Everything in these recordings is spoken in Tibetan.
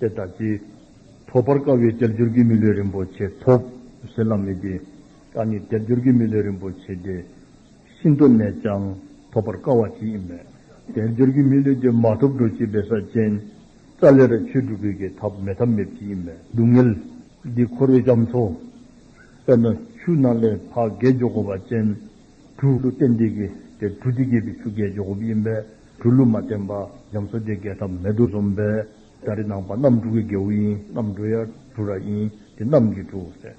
དེ་དག་གིས་ཐོབ་པར་དཀའ་བའི་དལ་འབྱོར་གྱི་མི་ལུས་རིན་པོ་ཆེ་ཐོབ་ཟེར་ལབ་མི་དགོས། ད་ནི་དལ་འབྱོར་གྱི་མི་ལུས་རིན་པོ་ཆེ་དེ་ཤིན་ཏུ་ནས་ཀྱང་ཐོབ་པར་དཀའ་བ་ཅིག་ཡིན་མོད། དལ་འབྱོར་གྱི་མི་ལུས་དེ་མ་ཐོབ་འགྲོ་ཅི་བས་ས་ཅན་རྩ་ལེ་ར་ཆོས་དྲུག་གི་གི་ཐབས་མེད་ཐབས་མེད་ཅིག་ཡིན་མོད། སྡུག་བསྔལ་འདི་འཁོར་བའི་སྐྱབས་མཚོ། དཔེར་ན་ཆུ་སྣ་ལས་ཕག་རྒལ་འཇོག་གོ་བ་ཅན། གྲུ་གླུ་ཏན་ཏིག་གིས་དེར་གྲུ་འདི་རྒྱས་པའི་ཆུ་རྒལ་འཇོག་གོ་བ་ཡིན་པས། གྲུ་ལུ་མ་བསྟན་པ་ཉམས་གསོ་རྗེ་རྒྱལ་ཐབས་མེད་དུ་རྩོམ་པའི་སྒྲ་རི་ནང་པ་རྣམ་དྲུག་གི་རྒྱལ་བོ་ཡིན་རྣམ་གྲུ་ཡར་གྲུ་ར་ཡིན་དེ་རྣམ་གྱི་གྲུ་ཟེར།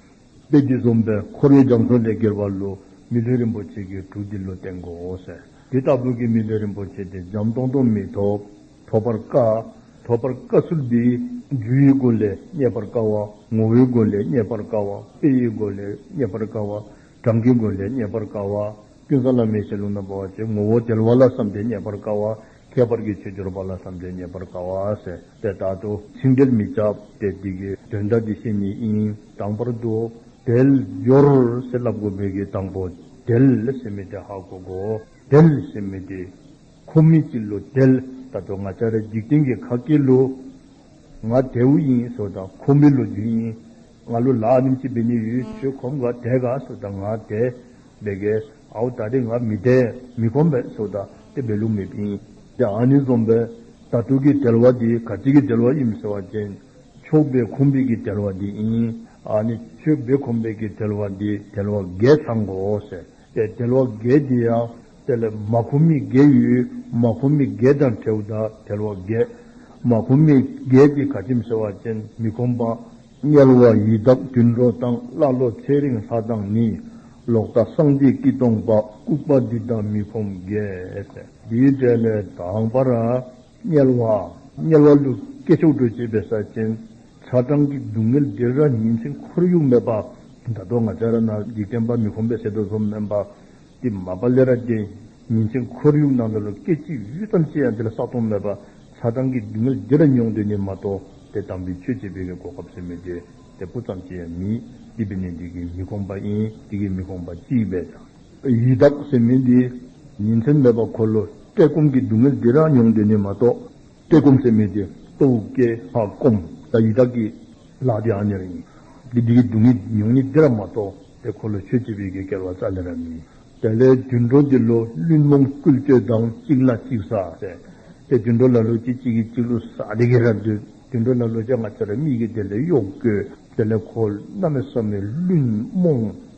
དཔལ་གྱིས་རྩོམ་པའི་འཁོར་ཡུག་རྒྱ་མཚོ་ལས་གྱེར་བ་ལུ་མི་ལྷོད་རིན་པོ་ཆེ་གི་གྲུ་འདི་ལུ་སྟེང་གོ་ཟེར། དེ་ལྟ་བུ་གི་མི་ལྷོད་རིན་པོ་ཆེ་དེ་འཇམ་སྟོང་སྟོང་མི་ཐོབ། ཐོབ་པར་དཀའ། ཐོབ་པར་དཀའ་ཚུལ་འདི། རྒྱུ་ཡི་སྒོ་ལས་རྙེད་པར་དཀའ་བ། ངོ་བོའི་སྒོ་ལས་རྙེད་པར་དཀའ་བ། དཔེ་ཡི་སྒོ་ལས་རྙེད་པར་དཀའ་བ། གྲངས་ཀྱི་སྒོ་ལས་རྙེད་པར་དཀའ་བ། ཀུན་བཟང་ལ་མི་ཤེས་ལུང་དང་པོ་བ་ཅའི་ངོ་བོ་དལ་བ་ལ་བསམ་གཏན་རྙེད་པར་དཀའ་བ། ཁྱད་པར་གྱི་ཆོས་སྦྱོར་བ་ལ་བསམ་གཏན་རྙེད་པར་དཀའ་བ་ཟེར་ཏེ་བརྟག་ཏོ། ཚིག་འགྲེལ་མི་བྱ་སྟེ་འདི་གའི་དོན་དག་གི་ཤེས་ཉིད་ཨིན་དང་བར་དུ། དལ་འབྱོར་ཞེས་བསླབ་དགོས་མོད་ཀྱི་དང་པོ་དལ་ཞེས་མི་སྟེ་ཧ་གོ་གོ། དལ་ཞེས་མི་སྟེ། ཁོ་མི་སྐྱིད་ལོ་དལ། ད་དོ་ང་ཅག་རེ་འཇིག་རྟེན་གྱི་ཁ་སྐྱེལ་ལོ། ང་དལ་བུ་ཡིན་ཟོ་དང་ཁོ་མི་ལོ་རྒྱུས་ཡིན། ང་ལོ་ལགས་ནིམ་གཅིག་བི་ནི་ཡུལ་ཆོས་གོམ་ག་དད་ག་སོ་ད་ང་དད་བེ་གའི་ཨའོ་ད་དེ་ང་མི་དད་མི་གོམ་བེ་སོ་ད་དེ་བེ་ལུག་མི་ཕིན་དེ་ཨ་ནི་རྩོམ་པའི་ད་ཐུག་གི་དད་བ་དེ་ག་ཅིག་གི་དད་བ་ཡིམ་ཟེར་བ་ཅན་ཆོས་བེ་གོམ་བེ་གི་དད་བ་དེ་ཡིན་ཨ་ནི་ཆོས་བེ་གོམ་བེ་གི་དད་བ་དེ་དད་བ་འགས་ཚང་གོ་ཟེར། པའི་དལ་བ་བརྒྱད་དེ་ཡང་དེ་ལས་མ་ཁུ་མི་བརྒྱད་ཡུལ་མ་ཁུ་མི་བརྒྱད་དང་བྲལ་བ་དག་དལ་བ་བརྒྱད། མ་ཁུ་མི་བརྒྱད་ཀྱི་ག་ཁྱིམ་ཟེར་བ་ཅན་མི་ཁོམ་པ། དམྱལ་བ་ཡི་དྭགས་བདུན་འགྲོ་དང་ཀླ་ཀློ་ཚེ་རིང་ལྷ་དང་ནི། ལོག་ལྟ་སངས་རྒྱས་སྐྱིད་སྟོང་པ་ལྐུགས་པ་འདི་དག་མི་ཁོམ་བརྒྱད། འདིའི་འབྲས་ལས་དང་བར། དམྱལ་བ། དམྱལ་བ་ལུས་སྐྱེས་ཕྱོགས་བྲོས་བྱེད་པའི་ས་ཆེན། ཚ་གྲང་གི་སྡུག་བསྔལ་བདེ་ར་ཉིན་མཚན་ཁོར་ཡུག་མེད་པ། མདའ་རྡོ་ང་ཆ་ར་ན་འཇིག་རྟེན་པ་མི་ཁོམ་པའི་ཟས་དུག་ཟོམ་སྨན་པ། ཏི་མ་པ་ལེ་ར་ཅན། ཉིན་མཚན་ཁོར་ཡུག་ནང་དུ་ལོ་སྐད་གཅིག་གཡུ་ཙམ་སྐྱེས་ཡང་དེ་ལ་ས་སྟོང་མེད་པ། ཚ་གྲང་གི་སྡུག་བསྔལ་བདེ་ར་མྱོང་འདོད་ནི་མ་གཏོགས་དེ་དང་པོའི་ཆོས་བྱེད་པའི་གི་གོ་སྐབས་སུ་མེད་དེ། དེ་སྤུ་ཙམ་སྐྱེས་ཡང་མི་ལྟེ་བི་ནས་འདི་གི་མི་ཁོམ་པ་ཨིན་དེ་གི་མི་ཁོམ་པ་ཅིག་བས་ཀྱང། ཡི་དྭགས་སེམས་མིན་ཏེ། ཉིན་མཚན་མེད་པར་འཁོར་ལོ་བཀྲེས་སྐོམ་གྱི་སྡུག་བསྔལ་འདི་རང་མྱོང་འདི་ནི་མ་གཏོགས་བཀྲེས་སྐོམ་སེམས་མིན་ཏེ། སྟོབས་བུ་སྐྱེ་འཕགས་སྐོམ་ལ་ཡི་དྭགས་ཀྱིས་ལག་དེའང་གཉེར་བ་ཡིན། འདི་འདི་ཀྱི་སྡུག་བསྔལ་མྱོང་ཉིན་འདི་རང་མ་གཏོགས་དེ་འཁོར་ལོ་ཆོས་སྐྱིད་པའི་གེགས་བསྐལ་བ་རྩ་ནས་ར་མིན། དེ་ལས་དུད་འགྲོ་འདི་ལོ་བླུན་རྨོངས་རྐུས་སྤྱོད་དང་གཅིག་ན་གཅིག་བསགས་ཟེར། དེ་དུད་འགྲོ་ལ་ལོ་གཅིག་གཅིག་གིས་གཅིག་ལོ་བསགས་དེ་གེ་ར་འདོད། དུད་འགྲོ་ལ་ལོ་བརྒྱ་ང་ཚ་ར་མིག་གིས་དེ་ལས་གཡོག་དགོས། དེ་ལས་འཁོར་རྣམས་ལ་བསམ་ནས་བླུན་རྨོངས་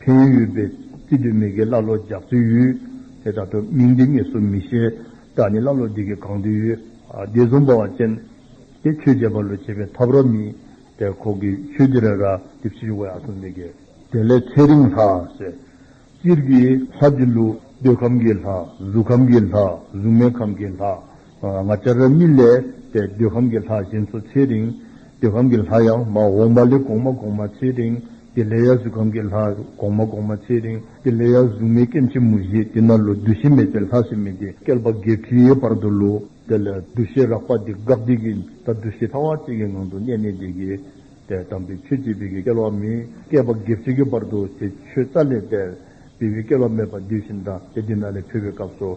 འཕན་ཡུལ་པའི་རྩིས་སྤྲོད་མི་སྒེར་ཀླ་ཀློ་རྒྱག་ཚུལ་ཡུལ། དེ་དག་ཐོས་མིང་འདི་ངེས་སུ་མི་ཤེས། བདག་ནི་ཀླ་ཀློ་འདི་གི་གང་འདུལ་ཡུལ། དེ་བཟུང་འབའ་བ་ཅན། དེ་ཆོས་རྗེ་འབའ་ལོ་བྱེད་པའི་ཐབས་རོ་མི། དེར་ཁོག་གི་ཆོས་རྗེ་རེ་ར་དེ་ཕྱི་བཞུགས་བ་ཡག་སོང་འདི་གི། དེ་ལས་ཚེ་རིང་ལྷ། ཟེར། སྤྱིར་གྱི་ལྷ་བཅུ་ལུགས། འདོད་ཁམས་ཀྱི་ལྷ། གཟུགས་ཁམས་ཀྱི་ལྷ། གཟུགས་མེད་ཁམས་ཀྱི་ལྷ། ང་ལྕགས་རི་རྨིད་ལས་པའི་འདོད་ཁམས་ཀྱི་ལྷ་བཞེངས་སོ་ཚེ་རིང། འདོད་ཁམས་ཀྱི་ལྷ་ཡང་མ་འོངས་པ་ལས་གོང་མ་གོང་མ་ཚེ་རིང་འདི་ལས་ཡང་གཟུགས་ཁམས་ཀྱི་ལྷ་གོང་མ་གོང་མ་ཚེ་རིང་འདི་ལས་ཡང་གཟུགས་མེད་སྐྱེ་མཆེད་མུ་བཞི་འདི་ན་ལོ་བདུད་བཞི་མེད་ཚེ་ལྷ་སྲིན་མི་འདི་བསྐལ་པ་བརྒྱད་ཁྲིའི་བར་དུ་ལོ། དེ་ལས་འདུ་ཤེས་རགས་པ་འདི་འགགས་དེ་ཀྱིས་ད་འདུ་ཤེས་ཐ་བ་གཅིག་གི་ངང་དུ་གནས་ནས་འདི་ཀྱི། དེ་དམ་པའི་ཆོས་སྐྱེས་བུ་ཀྱི་བསྐལ་བ་མི་བསྐལ་པ་བརྒྱད་ཁྲི་ཀྱི་བར་དུ་དེ་ཆོས་རྩ་ལས་འདས། བི་བི་བསྐལ་བ་མེད་པ་འདི་བཞིན་དང་དེ་འདི་ན་ལས་འཕེལ་བའི་སྐབས་སོ།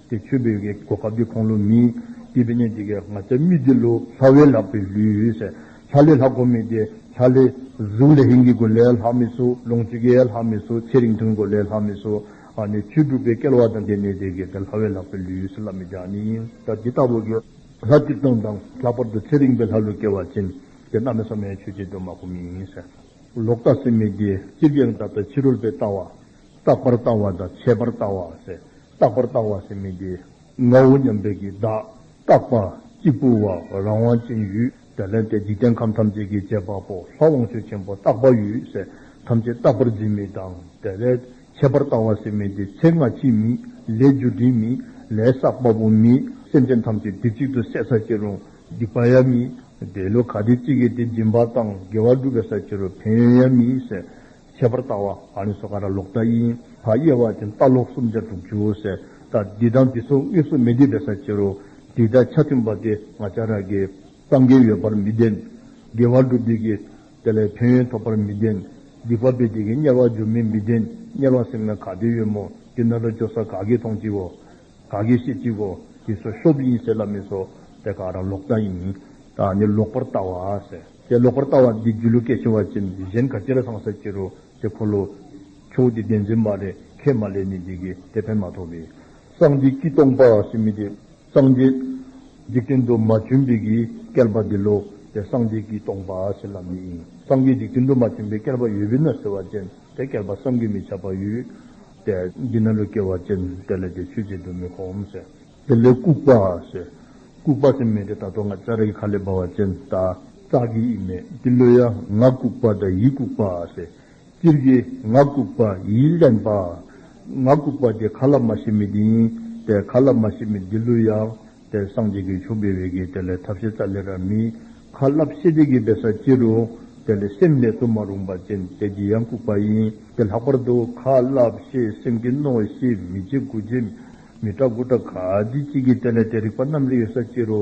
དེ་མཆོད་འབུལ་གྱི་གོ་སྐབས་འདི་ཁོང་ལོ་མིན། སྐྱིད་པའི་གཉེན་འདི་གའི་ང་ཚ་མི་འདི་ལོ། ལྷ་བའི་ལག་པའི་ལུས། ལྷ་ལས་ལྷ་གོ་མི་དེ་ལྷ་ལས། གཟུགས་ལས་ཧིན་གྱི་གོ་ལས་ལྷག་མི་སུ། ལོངས་སྤྱོད་རྒྱས་ལྷག་མི་སུ། ཚེ་རིང་ཐུང་གོ་ལས་ལྷག་མི་སུ། ནས་ཆོས་དྲུག་པའི་སྐལ་བ་དང་ལྡན་ནས་དེ་གའི་ལྷ་བའི་ལག་པའི་ལུས་སུ་ལྷ་མི་བརྒྱ་ནི་ཡིན། ད་འདི་ལྟ་བུ་དགེ། ལྷ་བཅུ་སྟོང་དང་ལྷག་པར་དུ་ཚེ་རིང་པའི་ལྷ་ལུས་སྐལ་བ་ཅན། དེ་རྣམས་ནི་ས་མའི་ཆོས་བྱེད་དུ་མ་གོ་མིན། ལོག་ལྟ་སེམས་མེད་དེ་སྤྱིར་རྒྱལ་བའི་འདབ་བརྡལ་ཕྱི་རོལ་པའི་ལྟ་བ། རྟག་པར་ལྟ་བ་དང་ཆད་པར་ལྟ་བ། རྟག་པར་ལྟ་བ་སེམས་མི་དགེ། ངའོ་སྙམ་པའི་གྱི་བདག། རྟག་པ། གཅིག་པུ་བ། རང་དབང་ཅན་ཡུལ། དེ་ལན་ཏེ་འཇིག་རྟེན་ཁམས་ཐམས་ཅད་ཀྱི་བྱེད་པ་པོ་ལྷ་དབང་ཕྱུག་ཆེན་པོ་རྟག་པ་ཡུལ། ཐམས་ཅད་རྟག་པར་འཛིན་མི་དང་དེ་ལས། ཆད་པར་ལྟ་བ་སེམས་མི་དགེ་ཚེ་སྔ་ཕྱི་མི། ལས་རྒྱུ་འབྲས་མི། ལས་བསགས་པ་པོ་མི། སེམས་ཅན་ཐམས་ཅད་དུས་གཅིག་ཏུ་སད་ས་ཁྱེད་རུང་སྡིག་པ་ཡ་མི། འདས་ལོ་ག་དུས་གཅིག་གིས་དེ་སྦྱིན་པ་དང་དགེ་བ་སྒྲུབ་པའི་ས་ཁྱེད་རུ་ཕན་ཡོན་ཡ་མི། ཁྱད་པར་རྟ་བ་ཨ་ནི་སོ་ཀ་ར་ལོག་རྟ་དབྱིན་བ་དབྱེ་བ་ཅན་རྟ་ལོག་སུམ་ཆ་དྲུག་ཅུའོ་ཟེར་རྟ་འདི་དང་འདི་ཚོ་གཉིས་སུ་མི་ལྡེབ་པའི་ས་ཁྱེར་རོ། འདི་དང་ཆ་མཐུན་པ་དེ་ང་ཅག་ར་གའི་སངས་རྒྱས་ཡོད་པར་མི་ལྡན། དགེ་བ་སྒྲུབ་དུས་ཀྱི་དེ་ལས་ཕན་ཡོན་ཐོབ་པར་མི་ལྡན། སྡིག་པ་སྤེལ་དུས་ཀྱི་དམྱལ་བར་འཇུག་མིན་མི་ལྡན་དམྱལ་བར་སེམས་ན་ག་དུས་ཡོད་མོ་དེ་ན་ར་ཅོ་ས་ག་གི་མཐོང་ཅིའོ། ག་གེ་ཤེས་ཅིག་གོ། ཞེས་སོ་ཤོབ་ཡིན་ཟེར་ལ་མི་སོ། དེ་ག་རང་ལོག་ལྟ་ཡིན། ད་ནི་ལོག་པར་ལྟ་བ་ཟེར། དེ་ལོག་པར་ལྟ་བ་འདི་རྒྱུ་ལུགས་གལ་ཆེ་བ་ཅན་གཞན་ག་ཅི་ལ་ཚང་ཟེར་གྱི་རོ། དེ་འཁོར་ལོ། ཁྱོད་ཀྱི་བདེན་འཛིན་མ་རེད་ཁས་མ་ལེན་ནི་འགྱིག་གི་དེ་ཕན་མ་ཐོགས་པས། སངས་རྒྱས་ཀྱིས་སྟོང་པ་ཞེས་མི་དེ། སངས་རྒྱས། འཇིག་རྟེན་དུ་མ་བྱོན་པའི་གིས་བསྐལ་པ་འདི་ལོ། དེ་སངས་རྒྱས་ཀྱིས་སྟོང་པ་ཟེར་ལ་མི་ཡིན། སངས་རྒྱས་འཇིག་རྟེན་དུ་མ་བྱོན་པའི་བསྐལ་པ་ཡོད་པས་ན་ཟེར་བ་ཅན་དེ་བསྐལ་པ་བསམ་གྱིས་མི་ཁྱབ་པ་ཡོད། པས། འདི་ན་ལུས་སྐྱེ་བ་ཅན་དེ་ལས་དེ་ཆོས་ཅན་དུ་མི་གོ་འམ་ཟེར། དེ་ལས་ལྐུགས་པ། ལྐུགས་པ་དེ་མེད་དེ་ད་དོ་ང་ཅག་རེ་ཁ་ལས་སྦ་བ་ཅན་ད་ཙག་གི་ཡིད་མེད་ཀྱི་ལུས་ཡ་ང་ལྐུགས་པ་དང་ཡིད་ལྐུགས་པ། སྤྱིར་གྱི་ང་ལྐུགས་པ་ཡིད་བརླན་པ། ང་ལྐུགས་པ་དེ་ཁ་ལ་མ་ཤེས་མི་དེ་ཡིན་པས་ཁ་ལ་མ་ཤེས་མི་དེ་ལུས་ཡ་དེར་སངས་རྒྱས་ཀྱི་ཆོས་འབེལ་བའི་གེགས་དེ་ལས་ཐབས་ཤེས་རྩ་ལེ་ར་མི། ཁ་བསླབ་ཤེས་བྱེད་ཀྱི་འབེལ་ས་ཅི་རུ། དེ་ལས་སེམས་ལས་སུ་མ་རུངས་པ་ཅན་དལ་གྱིས་ཡང་བཀུག་པ་ཡིན། དེ་ལྷག་པར་དུ་ཁ་བསླབ་ཤེས་སེམས་ཀྱི་རྣོ་ཤེས་མི་བྱེད་དགུ་བྱེད་མི་སྐྲག་དགུ་སྐྲག་ག་དུས་ཅི་བགྱིས་དེ་ལས་དེ་རིགས་པ་རྣམས་ལས་ཡོད་ས་ཅི་རུ།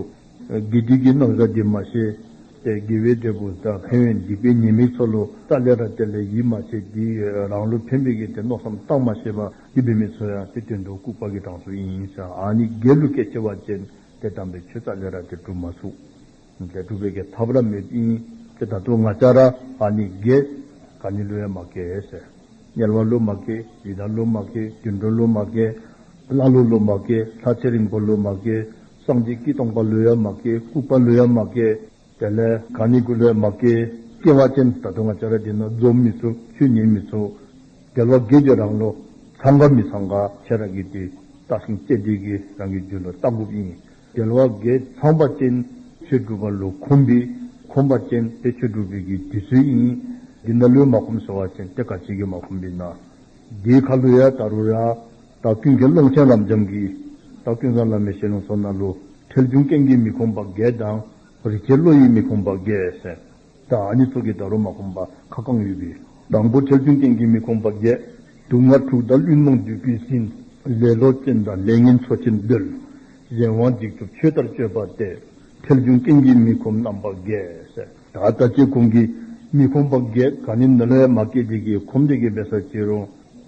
དགེ་འདུན་གྱི་རྣམ་བཟའ་འདི་མ་ཤེས། དེ་དགེ་བའི་འབྲས་བུ་དང་ཕན་བའི་འཇིགས་པའི་ཉེས་དམིགས་ཚོལ་ལོ་རྩ་ལེ་ར་དེ་ལས་ཡིད་མ་ཆེས་དེའི་རང་བློ་ཕན་པའི་གེགས་དེ་རྣོ་བསམ་གཏང་མ་ཤེས་པ། ཀྱི་བུད་མེད་ཚོ་ཡང་དེ་དོན་དུ་ལྐུགས་པ་གི་གྲངས་སུ་ཡིན་ཡིན་ཟེར་ཨ་ནི་རྒྱའི་ལུགས་སྐད་ཆེ་བ་ཅན་དེ་དམ་པའི་ཆོས་ཙཀླི་ར་དེ་གྲུབ་མ་ཚུགས། དེ་གྲུབ་པའི་གི་ཐབས་ར་མེད་ཀྱི་ཡིན་དེ་ད་དུང་ང་ཅག་ར་ཨ་ནི་རྒྱའི་ག་ནི་ལུས་ཡ་མ་ཀེ་ཟེར། དམྱལ་བ་ལུས་མ་ཀེ་ཡི་དྭགས་ལུས་མ་ཀེ་དུད་འགྲོ་ལུས་མ་ཀེ། ཀླ་ཀློ་ལུས་མ་ཀེ་ལྷ་ཚེ་རིང་པོ་ལུས་མ་ཀེ། སངས་རྒྱས་ཀྱིས་སྟོང་པ་ལུས་ཡ་མ་ཀེ་ལྐུགས་པ་ལུས་ཡ་མ་ཀེ། དེ་ལས་གང་ནི་ཀུན་རལ་མ་སྐྱེས་སྐྱེ་བ་ཅན་ད་དུང་ལྕགས་རལ་དེ་ནི་རྫོབ་མི་ཚུགས་ཆུ་ཉིལ་མི་ཚུགས། རྒྱལ་བ་བགེགས་ཀྱི་རང་ལོ་ཚང་ག་མི་ཚང་ག་ཁྱེད་རང་གིས་དེ་བརྟགས་ཤིང་དཔྱད་བདེ་གི་རང་གི་རྒྱུད་ལ་ལྟ་དགོས་ཡིན། རྒྱལ་བ་བགེགས་ཚང་པ་ཅན་ཆོས་སྒྲུབ་པ་ལོ་ཁོམ་པས་ཁོམ་པ་ཅན་དེ་ཆོས་སྒྲུབ་པའི་གི་དུས་ཚོད་ཡིན། འདི་ན་ལུས་མ་ཁོམ་ཟེར་བ་ཅན་དེ་ག་ཅིག་གིས་མ་ཁོམ་པས་ན། འདིའི་ཁ་ལུས་ཡ་ད་རུ་ར། བདག་ཀུན་དགེ་སློང་སྤྱན་རབ་འབྱམས་ཀྱིས། བདག་ཀུན་བཟང་ལམ་མེད་ཤེས་ལོངས་སོ་ན་ལོ། ཁྲེལ་གཞུང་རྐྱེན་གྱིས་མི་ཁོམ་པ་བརྒྱད་དང། རིག་བྱེད་བློ་ཡིས་མི་ཁོམ་པ་བརྒྱད། བདག་ཉིད་ཚོགས་ཀྱི་དགྲ་རུ་མ་ཁོམ་པ་ཁ་བསྐང་ཡོད་པས། དང་པོ་ཁྲེལ་གཞུང་རྐྱེན་གྱིས་མི་ཁོམ་པ་བརྒྱད། དུག་ལྔ་འཁྲུགས་དང་བླུན་རྨོངས་བདུད་ཀུན་ཟིན། ལེ་ལོ་ཅན་དང་ལས་ངན་འཚོ་ཕྱིར་འདོད། གཞན་དབང་འཇིགས་ཚུབ་ཆོས་ལྟར་སྤྱོད་པ་སྟེ། ཁྲེལ་གཞུང་རྐྱེན་གྱིས་མི་ཁོམ་རྣམ་པ་བརྒྱད། ད་ལྟ་སྐྱེ་ཁོམ་གྱིས་མི་ཁོམ་པ་བརྒྱད། གང་ནི་ནོར་ལྷའི་མ་སྐད་ཅིག་གིས་ཁོམ་བདེ་གི་འབད་སར་བྱེད་རུང།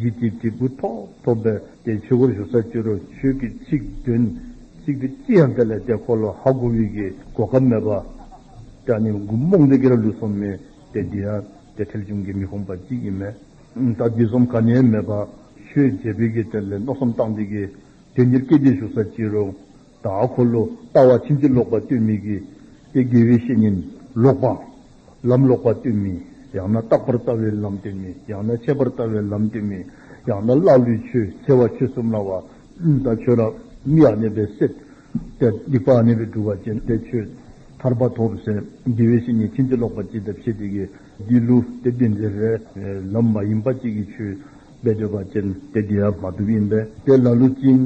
ཡིད་ཀྱི་དྲིལ་བུ་ཐོག་ཐོག་འབེབས་ཏེ་ཆོས་སྒོར་ཞུགས་ས་བཅུ་རུ་ཆོས་ཀྱི་ཚིག་བདུན། ཚིག་དེ་ཅི་ཡང་དེ་ལས་དེ་འཁོར་ལོ་ཧ་གོ་བྷིད་ཀྱི་གོ་སྐབས་མེད་པ། སྐྲ་ནི་མགུ་རྨོངས་འདི་སྐད་ལ་ལུས་སོམས་མེད་དེ་འདི་ཡང་དེ་ཁྲེལ་གཞུང་གིས་མི་ཁོམ་པ་ཅི་ཡིན་མེད། ད་བསྡུས་སོམས་ག་ནས་མེད་པ། ཆོས་རྗེ་བྷིད་ཀྱིས་དེ་ལས་མནོ་བསམ་བཏང་འདི་ཀྱི་དོན་གཉེར་སྐད་ཅིག་ཞུགས་ས་ཅི་རུ། ད་ཧ་འཁོར་ལོ་ལྟ་བ་ཕྱིན་ཅི་ལོག་པ་ལྟོས་མེད་ཀྱིས། དེ་དགེ་བའི་བཤེས་གཉེན་ལོག་པ། ལམ་ལོག་པར་ལྟོས་མིན། ཡང་ན་རྟག་པར་ལྟ་བའི་ལམ་ལྟོས་མིན། ཡང་ན་ཁྱད་པར་ལྟ་བའི་ལམ་ལྟོས་མིན། ཡང་ན་ཀླ་ཀློའི་ཆོས་འཚལ་བ་ཆོས་གསུམ་སྣང་བ། དང་ཆོས་རང་མིག་ཨ་གནས་པའི་སྲེད། དེར་སྡིག་པ་ཨ་གནས་པའི་སྒྲུབ་བ་ཅན་དེ་ཆོས་ཐར་པ་ཐོབ་ཟེར། དགེ་བའི་བཤེས་གཉེན་ཕྱིན་ཅི་ལོག་པར་ཅི་ལྟར་བཤད་དེ་ཀའི་དགེ་ལུགས་དེ་བདེན་འཛིན་རེད། ལམ་མ་ཡིན་པ་གཅིག་གིས་ཆོས་སྦས་སྤྲོས་པ་ཅན་དེ་དགེ་ཡ་མ་གྲུབ་ཡིན་པས་དེ་ལ་ལུགས་ཅན་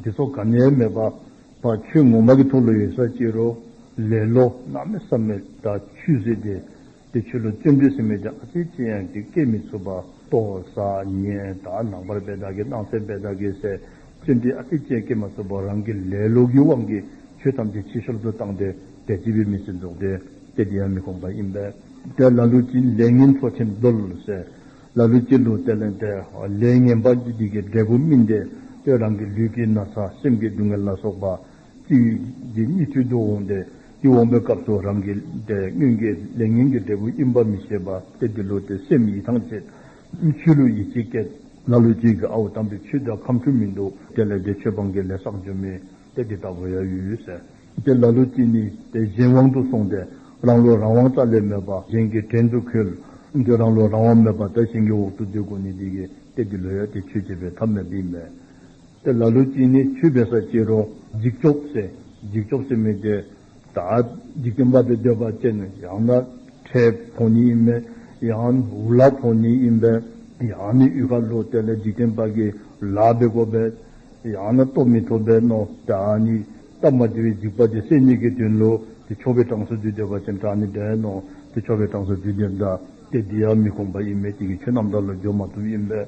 འདི་ཚོ་ག་ནས་མེད་པ། པ་ཆུ་ངོ་མ་གི་ཐུགས་ལོ་ཡོད་ས་གཅིག་རོ། ལེ་ལོ། ནག་མེ་སྲབ་མེ་དགྲ་ཆུས་བཟི་སྟེ། དེ་ཆུ་ལོ་བཅོས་འབྲུས་སྲིན་མོས་བརྒྱག་ཨ་ཅེ་ཅེ་ཡང་གི་སྐད་མི་ཚུགས་པ། ལྟོ་ས་ཉེས་དག་ནང་པར་བེ་དག་གི་སྣང་སེ་བེ་དག་གི་སེ། བཅོས་འབྲི་ཨ་ཅེ་ཅེ་སྐད་མ་ཚུགས་པར་རང་གི་ལེ་ལོ་གི་དབང་གིས་ཆུ་ཐམས་ཅད་ཕྱི་ཤོར་དུ་བཏང་སྟེ་དལ་གྱིས་བེ་མི་སེ་འཛུགས་ཏེ་སྐད་དེ་ཡང་མི་ཁོམ་པ་ཡིན་པས། དེ་ལ་ལུས་ཀྱི་ལས་ངན་འཚོ་ཆེན་བརྡོལ་སེ། ལ་ལུས་སྐྱིད་འདུག་དེ་ལས་འདས། ལས་ངན་པ་ཅི་བགྱིས་ཀྱི་འབྲས་བུ་སྨིན། དེ་ལྟོས་རང་གི་ལུས་ཀྱི་ན་ཚ་སེམས་ཀྱི་སྡུག་བསྔལ་ལ་སོགས་པ། ཅི་བགྱིས་སྙིགས་དུས་སྡུག་འོང་སྟེ། དེ་འོང་པའི་སྐབས་སུ་རང་གི། སྙུན་གྱི་ལས་ངན་གྱི་འབྲས་བུ་དབྱིན་པ་མི་ཤེས་པ་སྟེ་དེ་ལུས་དེ་སེམས་ཡིད་ཐང་ཆད། ཆོས་ལུགས་ཡིད་ཆེས་སྐྱེས། ལ་ལུས་སྐྱིད་ཀྱི་ཨ་འུ་དམ་པའི་ཆོས་དེ་ཁམས་འཁྲུལ་མི་འདུག་དེ་ལས་འདས་ཆོས་སྤང་གི་ལས་བསགས་རྒྱུ་མེད། དེ་འདི་ལྟ་བུ་ཡོད་ཟེར། དེ་ལ་ལུགས་གཅིག་ནི་དེ་གཞན་དབང་དུ་སོང་སྟེ་རང་བློ་རང་དབང་རྩ་ལས་མེད་པ་གཞན་གྱི་བྲན་དུ་ཁོལ། འདིར་རང་བློ་རང་དབང་མེད་པར་དེ་གཞན་གྱི་འོག་ཏུ་སྡོད་དགོས་ནི་འདི་གི་དེ་འདི་ལོས་ཡོད་དེ་ཆོས་བྱེད་པའི་ཐབས་མེད་འདི་མེད། དེ་ལ་ལུགས་གཅིག་ནི་ཆོས་པའི་ས་བཅད་རོ། འཇིགས་སྐྱོབ་སེ། འཇིགས་སྐྱོབ་སེ་མེད་དེ། དག། འཇིག་རྟེན་པ་དེ་འདོད་པ་ཅན་ནི་ཡང་ན་ཁྲའི་བོང་ནི་ཡིན་པས་ཡང་འུ་ལག་བོང་ནི་ཡིན་པས་ཡང་ནི་ཡུལ་ཁ་ལོ་དེ་ལས་འཇིག་རྟེན་པ་གི་ལག་པའི་བསྒོ་བས་ཡང་ན་སྟོབས་མི་ཐོབ་པས་ནོ། དག་ནི་སྟབས་མ་དེ་བས་འཇིག་པ་དེ་སེམས་ཉིད་ཀྱི་དོན་ལོ། དེ་འཆོར་བའི་གྲངས་སུ་དུས་འདོད་པ་ཅན་དག་ནི་བདེན་ནོ། དེ་འཆོར་བའི་གྲངས་སུ་དུས་འདི་ལྟ་སྟེ་འདི་ཡང་མི་ཁོམ་པ་ཡིན་པས་དེ་ཀྱི་ཆོས་རྣམས་དག་ལ་སྦྱོར་མ་ཐུབ་ཡིན་པས།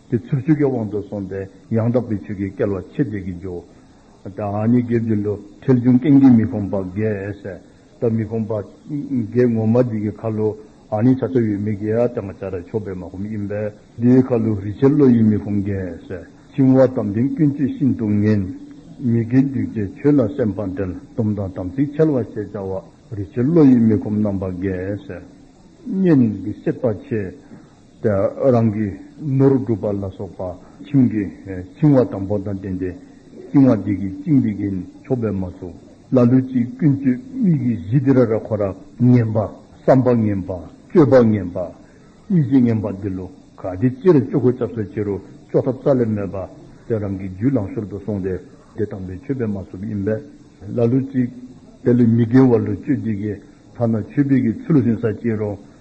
དེ་ཚུར་ཆོས་ཀྱི་དབང་དུ་སོང་སྟེ་ཡང་དག་པའི་ཆོས་ཀྱིས་བསྐལ་བ་ཕྱེད་བརྒྱད་ཀྱིས་འཇོའོ། དེ་ཨ་མྱེས་དགེ་བཅུ་འདུ་འཕྲལ་འབྱུང་རྐྱེན་གྱིས་མི་ཕོངས་པ་བརྒྱད་དང་མི་ཕོངས་པ་བརྒྱད་ངོ་མ་འདི་གའི་ཁ་ལོ་ཨ་ནི་བྱ་ཚོ་ཡོད་མི་བརྒྱད་ཨ་དང་བྱ་ར་ཕྱོགས་པའི་མ་ཧུམ་ཡིན་པས་དེའི་ཁ་ལོ་རི་ཆེ་ལོ་ཡི་མི་ཕོངས་བརྒྱད། བཅིང་བ་དམ་ལྡན་ཀུན་སྤྱོད་ཤིན་ཏུ་ངན། མི་དགེ་འདུས་བྱས་ཆོས་ལ་སེམས་དཔའ་འབྲལ་སྡོམ་དང་དམ་ཚིག་འཆལ་བ་ཞེས་བྱ་བ་རི་ཆེ་ལོ་ཡི་མི་ཁོམ་རྣམ་པ་བརྒྱད། གཉེན་གྱི་སྲེད་པ་ཆེ། རང་གི་ནོར་བསྒྲུབ་པ་ལ་སོགས་པ་ཁྱིམ་གྱི་འཆིང་བ་དང་པོ་དང་བརྟེན་ཏེ། བཅིང་བ་འདི་གིས་བཅིངས་འདི་གིས་ཆོག་པས་མ་སོ། ལ་ལུས་ཀྱི་ཀུན་སྤྱོད་མིག་གི་གཞི་དེ་ར་ར་ཁོ་ར་ངན་པ། བསམ་པ་ངན་པ། སྤྱོད་པ་ངན་པ། ཡིད་བྱེད་ངན་པ་འདི་ལོ་ག་དེ་སྤྱི་ར་སྤྱོད་གོ་ཆབ་སེ་བྱེད་རོ་ཅོག་ཐབ་རྩ་ལས་མེད་པ་དེ་རང་གི་རྒྱུད་ལང་ཤོར་དུ་སོང་སྟེ་དེ་དང་པོའི་ཆོས་པས་མ་སོབ་ཡིན་པས་ལ་ལུས་ཅིག། དེ་ལས་མི་དགེ་བ་ལུས་སྤྱོད་འདི་གིས་ཐ་ན་ཆོས་པས་ཀྱི་ཚུལ་ལ་ཟིན་ས་བྱེད་རོ།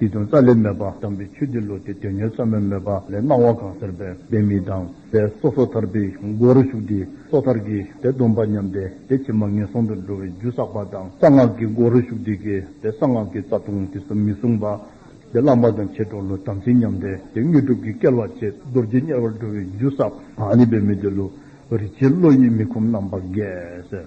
དེ་དོན་རྩ་ལས་སྨྲས་པ་དམ་པའི་ཆོས་འདི་ལོ་དེ་དོན་ཉེར་ཚང་མའི་སྨོད་པ་ལས་སྣང་བ་གང་ཟེར་པའི་བདེན་མིན་དང་པས་སོ་སོ་ཐར་པའི་སྒོ་རུ་ཞུགས་ཏེ་སོ་ཐར་གྱི་དེ་སྡོམ་པ་ཉམས་ཏེ་དེ་ཕྱི་མ་ངན་སོང་དུ་འགྲོ་བའི་རྒྱུ་བསགས་པ་དང་གསང་སྔགས་ཀྱི་སྒོ་རུ་ཞུགས་ཏེ་གལ་ཏེ་གསང་སྔགས་ཀྱི་རྩ་ལྟུང་དེ་སུ་མི་བསྲུང་པ་དེ་བླང་བ་དང་བྱེད་གྲོགས་ལོ་དམ་ཚིག་ཉམས་ཏེ་དེ་དངོས་གྲུབ་ཀྱི་སྐལ་བ་བཅད་རྡོ་རྗེ་དམྱལ་བར་འགྲོ་བའི་རྒྱུ་བསགས་པ་ནི་བེད་མེད་དེ་ལོ་རི་ཆེན་བློ་ཡིས་མི་ཁོམ་རྣམ་པ་འགས།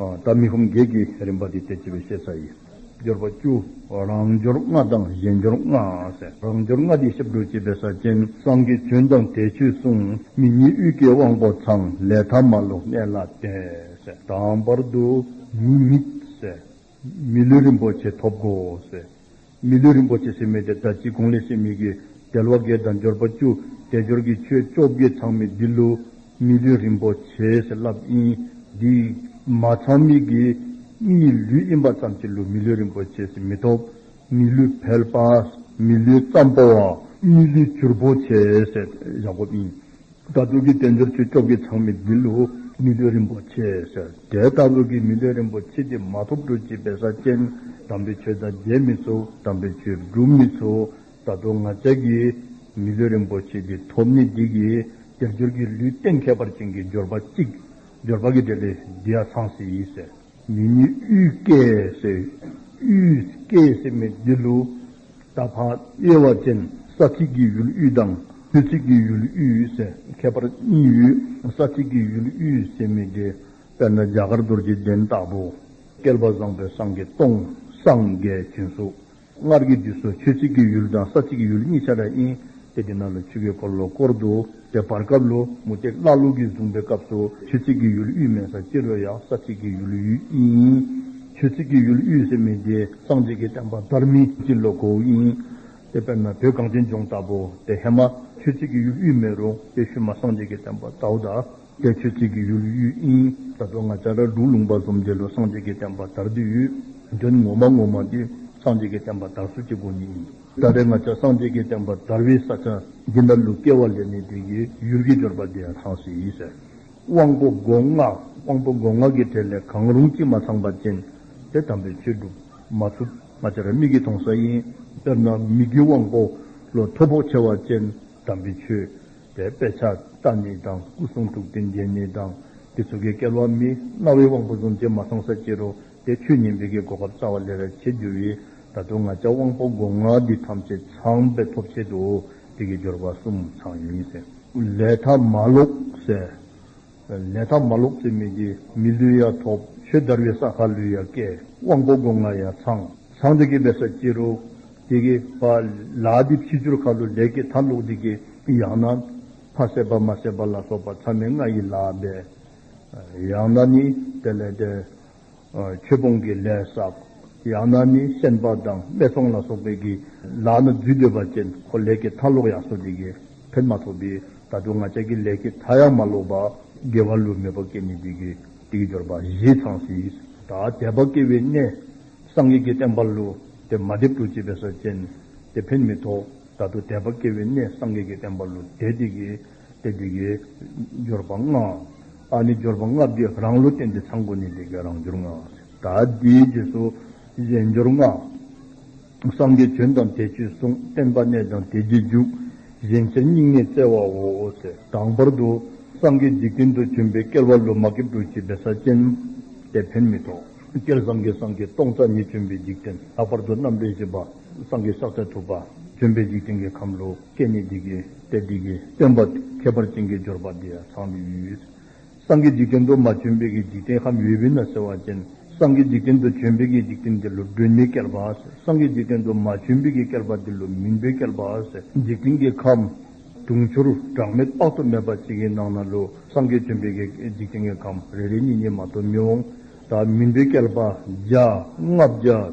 ལྟ་མི་ཧོམ་བརྒྱད་ཀྱི་རིམ་པ་དེ་སྟེ་བྱེད་པའི་ཤེས་བྱ་ཡི། སྦྱོར་བ་བཅུ། རང་སྦྱོར་ལྔ་དང་གཞན་སྦྱོར་ལྔ། རང་སྦྱོར་ལྔ་དེ་ཞབས་བྲོ་བྱེད་པའི་ས་ཅན། སང་གི་བྱོན་དང་དལ་ཆོས་གསུང། མི་གཉིས་དབུས་ཀྱི་དབང་པོ་ཚང། ལས་ཐ་མ་ལོ་གནས་ལ་བརྟེན། དང་བར་དུ། མི་དམིགས། མི་ལུས་རིན་པོ་ཆེ་ཐོབ་གོ། མི་ལུས་རིན་པོ་ཆེ་སེམས་མེད་དེ་ལྟར་ཅི་དགོངས་ལས་སེམས་ཉིད་ཀྱི་རྒྱལ་བ་དགེ་དང་འབྱོར་པ་བཅུ་དགེ་སྦྱོར་གྱི་ཆོས་བཅོ་བརྒྱད་ཚང་མས་འདི་ལུས་མི་ལུས་རིན་པོ་ཆེས་བསླབ་ཨིན། འདི་མ་ཚང་མིག་གིས་གཉིས་ལུས་དབྱིན་པ་ཙམ་གྱིས་ལུས་མི་ལུས་རིན་པོ་ཆེས་མི་ཐོབ། མི་ལུས་བལ་པ། མི་ལུས་ཙམ་པོ་བ། མི་ལུས་བྱུར་པོ་ཆེས་བཞག་གོ་ཨིན། དགའ་སྟོན་གྱི་རྟེན་འབྱོར་ཆོས་སྐྱོབ་ཀྱི་ཚང་མི་འདི་ལོ་མི་ལུས་རིན་པོ་ཆེ་ཟེར་དེ་ལྟ་བུ་གི་མི་ལུས་རིན་པོ་ཆེ་དེ་མ་ཐོབ་འགྲོ་ཅི་བས་ས་ཆེན་དམ་པའི་ཆོས་དང་རྒྱལ་མི་ཚོ་དམ་པའི་ཆོས་སྒྲུབ་མི་ཚོ་ད་དུང་ང་ཅག་གི་མི་ལུས་རིན་པོ་ཆེ་དེ་ཐོབ་ནི་འདི་གི་རྒྱབ་སྐྱོར་གྱི་ལུས་སྟེང་ཁྱད་པར་ཅན་གྱི་འབྱོར་པ་གཅིག་འབྱོར་པ་གི་འབྲས་ལས་འདི་ཡ་ཚང་སྲིད་ཟེར། མི་ནི་དབུས་སྐད་ཟེར། དབུས་སྐད་ཟེར་མི་བདེ་ལུ། ད་ཕག་དབྱེ་བ་ཅན་ས་ཚིགས་ཀྱི་ཡུལ་དབུས་དང་དབུས་ཚིགས་ཀྱི་ཡུལ་དབུས་ཟེར་ཁྱད་པར་གཉིས་ཡོད། ས་ཚིགས་ཀྱི་ཡུལ་དབུས་ཟེར་མི་བདེ། དཔེར་ན་རྒྱ་གར་རྡོ་རྗེ་གདན་སྟག་པོ། བསྐལ་པ་བཟང་པོའི་སངས་རྒྱས་སྟོང་སངས་རྒྱས་སྤྱན་གཟུགས། སྔར་གྱི་དུས་སུ་ཆོས་གཅིག་གི་ཡུལ་དང་ས་གཅིག་གི་ཡུལ་གཉིས་ཆགས་པ་ཡིན། དེ་དེ་ན་ལོ་ཆོས་ཀྱི་འཁོར་ལོ་བསྐོར་འདུག་པའི་བར་སྐབས་ལོ་མུ་སྟེགས་བླ་ལུག་གིས་བཟུང་པའི་སྐབས་སུ་ཆོས་གཅིག་གི་ཡུལ་དབུས་མེད་ས་སྐྱེ་རུ་ཡང་ས་གཅིག་གི་ཡུལ་ཡིན། ཆོས་གཅིག་གི་ཡུལ་དབུས་སེ་མི་དེ་སངས་རྒྱས་ཀྱི་བསྟན་པ་དར་མིན་གྱི་ལོ་གོ་ཡིན། དཔེར་ན་བོད་གངས་ཅན་ལྗོངས་ལྟ་བུ་དེ་ཧེ་མ་ཆོས་གཅིག་གི་ཡུལ་དབུས་མེད་རུང་དེ་ཤུལ་མ་སངས་རྒྱས་ཀྱི་བསྟན་པ་དའུ་ད། སྐད་ཆོས་གཅིག་གིས་ཡུལ་གཡུལ་དབྱིངས། ས་རྡོ་ལྔ་ལྕགས་དྲ་གྲུག་ལུང་པ་གསུམ་འདི་ལོ་སངས་རྒྱས་ཀྱི་བསྟན་པ་དར་དུས་ཡུལ། དོན་ངོ་མ་ངོ་མ་དེ་སངས་རྒྱས་ཀྱི་བསྟན་པ་དར་སྲོལ་གྱི་སྒོ་ནས་ཡིན། ད་རེས་ང་ཅག་སངས་རྒྱས་ཀྱི་བསྟན་པ་དར་བའི་ས་ཆ་འདི་འདྲ་ལུགས་སྐལ་བ་ལས་མེད་དེ་གའི་ཡུལ་གྱི་འབྱོར་པ་དེ་ཡང་ཚང་སྲིད་ཡིན་ཟེར། དབང་པོ་སྒོ་ལྔ། དབང་པོ་སྒོ་ལྔ་གི་གྲས་ལས་གང་རུང་གཅིག་མ་ཚང་པ་ཅན་དེ་དམ་པའི་ཆོས་སྒྲུབ་མ་ཐུབ། ང་ཅག་རེ་མིག་གིས་མཐོང་ས་ཡིན། དཔེར་ན་མི་དགེའི་དབང་པོ་ལོ་ཐོ་ཕོག་ཆེ་བ་ཅན་དམ་པའི་ཆོས་པའི་དཔེ་ཆ་རྟ་ཉིད་དང་སྐུ་གསུང་ཐུགས་རྟེན་རྒྱན་ཉིད་དང་དེ་ཚུལ་གྱིས་བསྐལ་བ་མི་མངའ་བའི་དབང་པོ་གཟུང་བྱེད་མ་ཚང་ས་ཅི་རོ་དེ་ཆོས་ཉིད་འདི་གའི་གོ་སྐབས་རྩ་བ་ལས་ར་བྱེད་རྒྱུ་བས་ད་དུང་ང་ཅག་དབང་པོ་སྒོ་ང་འདི་ཐམས་ཅད་ཚངས་པའི་ཐོབ་བྱེད་དུ་འོ་དེ་གའི་སྦྱོར་བ་གསུམ་ཚང་ཡིན། ལས་ཐ་མ་ལོག་སའི་ལས་ཐ་མ་ལོག་ཚེ་མི་དགེ་མི་ལུས་ཡ་ཐོབ། ཆོས་དར་བའི་ས་ཁ་ལུས་ཡ་སྐལ། དབང་པོ་སྒོ་ང་ཡ་ཚང། ཚང་དུ་སྐྱེས་པའི་ས་སྐྱེ་རུ། དེ་སྐྱེས་པ། ལ་དེ་ཕྱི་སྦྱོར་ཁ་ལོ་ལས་སྐྱེས་ཐ་ལོག་དེ་སྐྱེ། ཡང་ན། ཕ་བསད་པ་མ་བསད་པ་ལ་སོགས་པ་ཚ་མེད་ལྔ་ཡི་ལ་བས། ཡང་ན་ནི། དེ་ལས་འདས། ཆོས་སྤོང་གི་ལས་བསགས། ཡང་ན་ནི་སེམས་དཔའ་དང་སྨད་འཚོང་ལ་སོགས་པའི་གི་ལག་ན་རྫུས་འདོད་པ་ཅན་ཁོ་ལས་ཀྱི་མཐའ་ལོག་ཡང་སོ་འདི་གི་བེར་མ་ཐོགས་པས་ད་དུང་ང་ཅག་གི་ལས་ཀྱི་མཐའ་ཡང་མ་ལོག་པ་དགེ་བ་ལུས་མེད་པ་སྐད་ནི་འདི་གི་དེ་ཡི་སྦྱོར་བ་བཞི་ཚང་སྲིད། ད་དད་པ་སྐྱེ་བའི་གནས། སངས་རྒྱས་ཀྱི་བསྟན་པ་ལུས་དེ་མ་བསྒྲིབས་དུ་བྱེད་པའི་ས་ཅན། དེ་བེར་མི་ཐོགས་ད་དུ་དད་པ་སྐྱེ་བའི་གནས་སངས་རྒྱས་ཀྱི་བསྟན་པ་ལུས་དེ་འདི་གི་དེ་འདི་གི། སྦྱོར་བ་ལྔ། ཨ་ནི་སྦྱོར་བ་ལྔ་བརྒྱས་རང་བློ་བསྟན་ཏེ་ཚངས་སྒོ་ནི་དེ་ཀའི་རང་སྦྱོར་ལྔ། ད་ལྟའི་རྗེས་སུ་གཞན་སྦྱོར་ལྔ། སངས་རྒྱས་བྱོན་དང་དེ་ཆོས་གསུངས་བསྟན་པ་གནས་དང་དེ་རྗེས་འཇུག། གཞན་ཕྱིར་སྙིང་ནས་བཙལ་བའོ། དང་བར་དུ་སངས་རྒྱས་འཇིག་རྟེན་དུ་བྱོན་པའི་བསྐལ་བ་ལོ་མ་ཀེབ་ཀྲུག་བྱེད་པའི་ས་ཅན། དེ་ཕན་མི་ཐོགས། སྐལ་བཟང་གིས་སངས་རྒྱས་སྟོང་རྩ་གཉིས་བྱོན་པའི་འཇིག་རྟེན་ལྷག་པར་དུ་རྣམ་འདྲེན་བཞི་པ་སངས་རྒྱས་ཕྱག་འཚལ་ཐུབ་པ། བྱོན་པའི་འཇིག་རྟེན་གྱི་ཁམས་ལོ་སྐལ་གཉིས་འདི་ཀའི། དེ་དེ་གའི་སྟོན་པ་ཁྱད་པར་ཅན་གྱི་སྦྱོར་བ་འདི་ཡང་ཚང་བའི་ཡུལ་ཡོད། སངས་རྒྱས་འཇིག་རྟེན་དུ་མ་བྱོན་པའི་གི་འཇིག་རྟེན་ཧམ་ཡོད་བི་ན་ཟེར་བ་ཅན་སངས་རྒྱས་འཇིག་རྟེན་དུ་བྱོན་པའི་གི་འཇིག་རྟེན་འདི་ལུ་སྒྲོན་མེའི་བསྐལ་པ་སངས་རྒྱས་འཇིག་རྟེན་དུ་མ་བྱོན་པའི་གི་བསྐལ་པ་འདི་ལུ་མུན་པའི་བསྐལ་པ་འཇིག་རྟེན་གྱི་ཁམས། དུང་ཕྱུར་གྲངས་མེད་དཔག་ཏུ་མེད་པ་ཅིག་གི་ནང་ན་ལུ་སངས་རྒྱས་བྱོན་པའི་གི་འཇིག་རྟེན་གྱི་ཁམས་རེ་རེ་གཉིས་གཉིས་མ་གཏོགས་མི་འོང། དང་མུན་པའི་བསྐལ་པ་བརྒྱ། ལྔ་བརྒྱ།